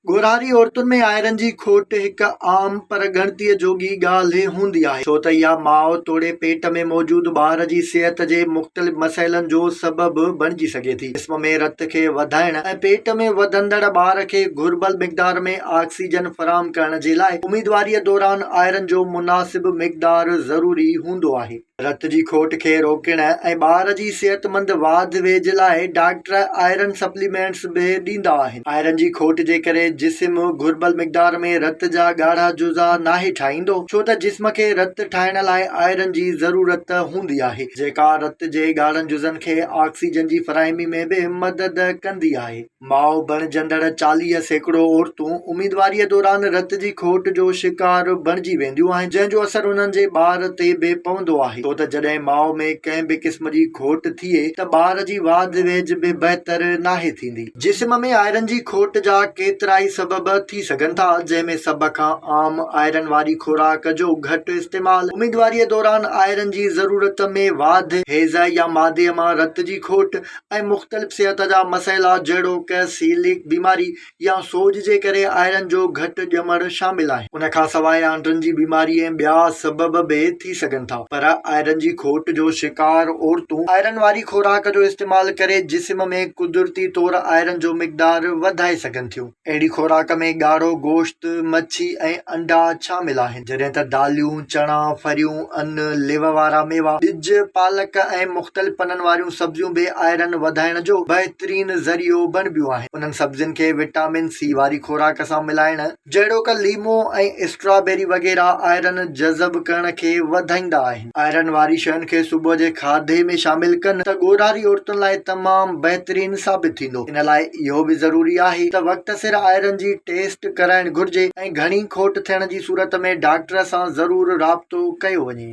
ڳورهاري عورتن ۾ آئرن جي کوٽ هڪ عام پر ڳڻتيء جوڳي ڳالهه هوندي آهي، ڇو ته اها ماء توڙي پيٽ ۾ موجود ٻار جي صحت جي مختلف مسئلن جو سبب بڻجي سگهي ٿي. جسم ۾ رت کي وڌائڻ ۽ پيٽ ۾ وڌندڙ ٻار کي گهربل مقدار ۾ آڪسيجن فراهم ڪرڻ جي لاء اميدواريء دوران آئرن جو مناسب مقدار ضروري هوندو آهي. رت جي کوٽ کي روڪڻ ۽ ٻار جي صحتمند واڌ ويجهه لاء ڊاڪٽر آئرن سپليمينٽس به ڏيندا آهن. آئرن جي کوٽ جي ڪري جسم گهربل مقدار ۾ رت جا ڳاڙها جزا ناهي ٺاهيندو، ڇو ته جسم کي رت ٺاهڻ لاء آئرن جي ضرورت هوندي آهي، جيڪا رت جي ڳاڙهن جزن کي آڪسيجن جي فراهمي ۾ به مدد ڪندي آهي. ماء بڻجندڙ چاليهه سيڪڙو عورتون اميدواريء دوران رت جي کوٽ جو شڪار بڻجي وينديون آهن، جنهن جو اثر انهن جي ٻار تي به پوندو آهي، ڇو ته جڏهن ماء ۾ ڪنهن به قسم جي کوٽ ٿئي ته ٻار جي واڌ ويجهه به بهتر ناهي ٿيندي. جسم ۾ آئرن جي کوٽ جا ڪيترائي سبب ٿي سگهن ٿا، جنهن ۾ سڀ کان عام آئرن واري خوراڪ جو گهٽ استعمال، اميدواريء دوران آئرن جي ضرورت ۾ واڌ، هيضه يا مادي مان رت جي کوٽ، ۽ مختلف صحت جا مسئلا جهڙوڪ سيليڪ بيماري يا سوڄ جي ڪري آئرن جو گهٽ ڄمڻ شامل آهن ان کان سواء آنڊن جي بيماري ۽ ٻيا سبب به ٿي سگهن ٿا پر آئرن جي کوٽ جو شڪار عورتون آئرن واري خوراڪ جو استعمال ڪري جسم ۾ قدرتي طور آئرن جو مقدار وڌائي سگهن ٿيون. اهڙي خوراڪ ۾ ڳاڙهو گوشت، مڇي ۽ انڊا شامل آهن، جڏهن ته داليون، چڻا، ڦريون، ان، ليوه وارا ميوا، ٻج، پالڪ ۽ مختلف پنن واريون سبزيون به آئرن وڌائڻ جو بهترين ذريعو بڻبيون آهن. انهن سبزين کي وٽامن سي واري خوراڪ سان ملائڻ، جهڙوڪ ليمو ۽ اسٽرابيري وغيره، آئرن جذب ڪرڻ کي وڌائيندا آهن. آئرن واري شين کي صبح جي کاڌي ۾ شامل ڪن ته ڳوڙهاري عورتن لاء تمام بهترين ثابت ٿيندو. ان لاء اهو به ضروري آهي ته وقت سر آئرن جي ٽيسٽ ڪرائڻ گهرجي ۽ گهڻي کوٽ ٿيڻ جي صورت ۾ ڊاڪٽر سان ضرور رابطو ڪيو وڃي.